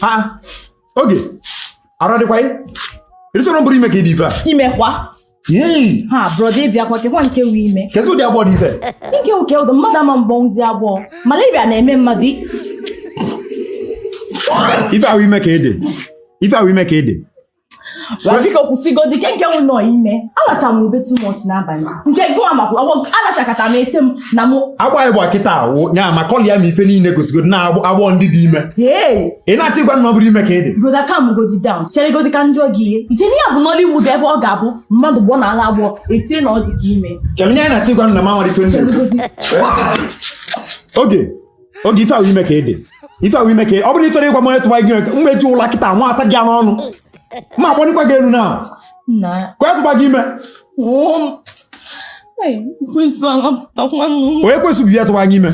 ha oge arụ adịkwa gị ị dị sure ọ bụrọ ime ka ị dị ife a imekwa Yee! ha brọda ị bịakwa kekwa nke wu ime kezi ụdị agbọ dị ife nke uke ụdọ mmadụ ama gbọnwuzi agbọ malaria na-eme mmadụ i- ife ahụ ime ka ị dị ife ahụ ime ka ị dị biko kwụsịgodi kee nke wụ ime alacha m ube too much n'abalị nke gụwa makwa alachakata m ese m na mụ agbaghị gba kịta awụ nya ma kọlịa m ife niile gosigo na agbọ ndị dị ime ị na-achọ ịgwa m na ọ bụrọ ime ka ị dị brọda calm godi down cheregodi ka m jụọ gị ihe i che n'ihe a bụ Nollywood ebe ọ ga-abụ mmadụ gbọ na ala agbọ e tie na ọ dịgo ime chere nye anyị na-achọ ịgwa na m amarọ ife ndị oge oge ife ahụ ime ka ị dị ife ahụ ime ka ọ bụrụ na ị chọrọ ịgwa m onye tụwa gị m eji ụla kịta mata gị n'ọnụ ma akpọnikwa gị elu na ka tụwa gị ime onye ka ị sị bụ ya tụwa gị ime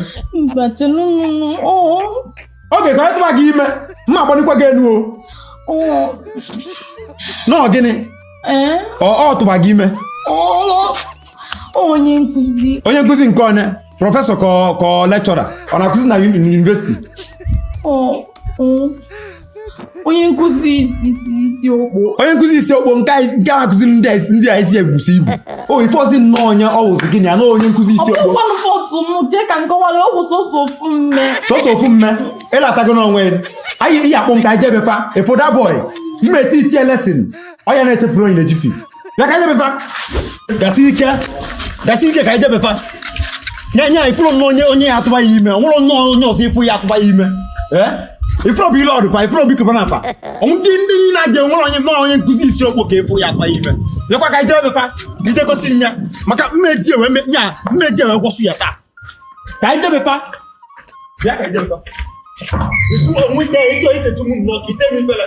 oge ka onye tụwa gị ime ma akpọnikwa gị elu o nọọ gịnị Ee, ọ ọ tụba gị ime ọ- onye nkụzi onye nkụzi nke onye professor ka ọ- ka ọ lecturer ọ na-akụzi na uni- university ọ- ọ- onye nkụzi isi isi okpo onye nkụzi isi okpo nke anyị- nke a na-akụzi ndị a isi- ndị a isi ebusi ibu o ị fụrọzi nnọọ onye ọ wụzi gị na ya na onye nkụzi isi okpo ọkpụkpọnụ fọtụ m jee ka m kọwara ọ bụ sọsọ ofu mme sọsọ ofu mme ị latago n'onwe ya anyị ị ya-akpọ m ka anyị je be fa ị fụ that boy m e-teach ya lesson onye na-echefuru onye na-echifi bịa ka anyị je be fa gasie ike gasie ike ka anyị je be fa nye nye ị fụrọ nnọọ onye onye ya-atụba gị ime o nwerọ nnọọ onye ọzọ ị fụ ya-atụba gị ime ee ị fụrọ Blord kwa ị fụrọ Obi Cubana kwa ọnwụ ndị ndị niile a ga-enwere onye nnọọ onye nkụzi isi okpo ka ị fụ ya-atụba gị ime lekwa ka anyị je be fa i je gosi m ya maka m eji iwe me- nya m eji iwe gwọsụ ya taa ka anyị je be fa bịa ka anyị je be fa ifuru onwe ike ị chọ itechi mụ nnọọ ka ite m ifere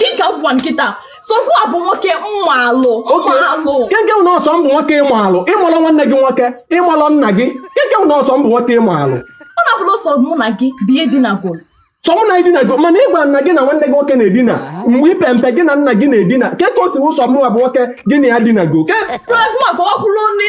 dịka m gwa gị kịta sọ gụwa bụ nwoke m malụ m malụ keke na ọ sọ m bụ nwoke ị malụ ị malọ nwanne gị nwoke ị malọ nna gị keke na ọ sọ m bụ nwoke ị malụ ọ na-abụrụ sọ mụ na gị bịa dinago sọ mụ na gị dinago mana gụwa nwa gị na nwanne gị nwoke na-edina mgbe ị pe mpe gị na nna gị na-edina kee ka o si wụ sọ mụ bụ nwoke gị na ya dinago oke Pragma ka ọ kwụrụ nri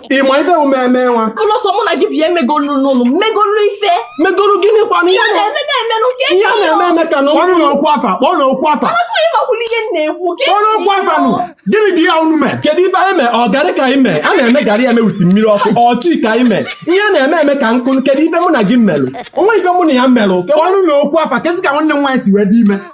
ị ma ife bụ mmemme nwa ụlọ sọ mụ na gị bịa megolu n'ụlọ megolu ife megolu gịnị kwanụ ihe a na-eme eme n'ụka ihe a na-eme eme ka nọ kpọrọ okwu afa kpọrọ okwu afa ị makwanụ ihe m na-ekwu kpọrọ okwu afa nụ gịnị dị ya unu mee kedu ife anyị mee ọ garị ka anyị mee a na-eme garị eme e wute mmiri ọkụ ọ tea ka anyị mee ihe a na-eme eme ka nkụ kedu ife mụ na gị melụ o nwe ife mụ na gị melụ kpọrọ na okwu afa kezi ka nwanne m nwaanyị si wee dị ime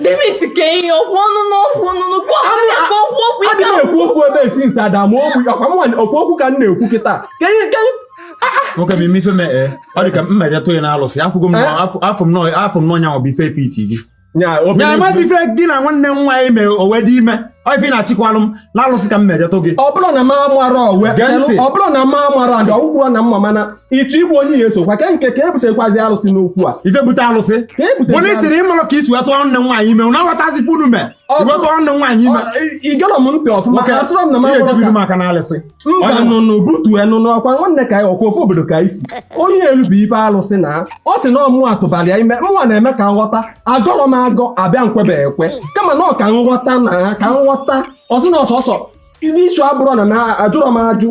demisi ka ihe okwu ọnụ n'okwu ọnụ n'okwu ọkụ okwu okwu ịga adịghị ekwu okwu ebe esi nsi ada ma okwu ọkwa m nwanyị okwu okwu ka m na-ekwu kịta ka ihe ka nwoke bụ ime ife mee ee ọ dị ka m mere tụ gị n'alụsị afụgo m afọ m nọọ afọ m nọọ nyanwa bụ ife pete gị nya ya obi amasị ife gị na nwanne m nwaanyị mere o wee dị ime ọ ife ị na-achịkwalụ m na alụsị ka m mere tụ gị ọ bụrụ na m amara owe gee ntị ọ bụrụ na m amara ndị ọgwụgwọ na mma mana ịchọ igbu onye ya esokwa ka nke ka ebutekwazi alụsị n'okwu a ife bute alụsị ka ebute onye sịrị ị marọ ka i si wetụ nwanne m nwaanyị ime na-aghọtazi funu me iwetụ nwanne m nwaanyị ime i gere m ntị ọfụma ka asịrọ m na m eje ebido maka na alụsị mba nụnụ butu enụ n'ọkwa nwanne ka ọkwa ofu obodo ka isi onye elu bụ ife alụsị na ọ sị na ọ mụ tụbara ya ime mụnwa na-eme ka nghọta agọrọ m agọ abịa m kwebe ekwe kama na ọ ka nghọta na ka nghọta ọ sị na ọsọsọ ndị isu abụrụ na na ajụrọ m ajụ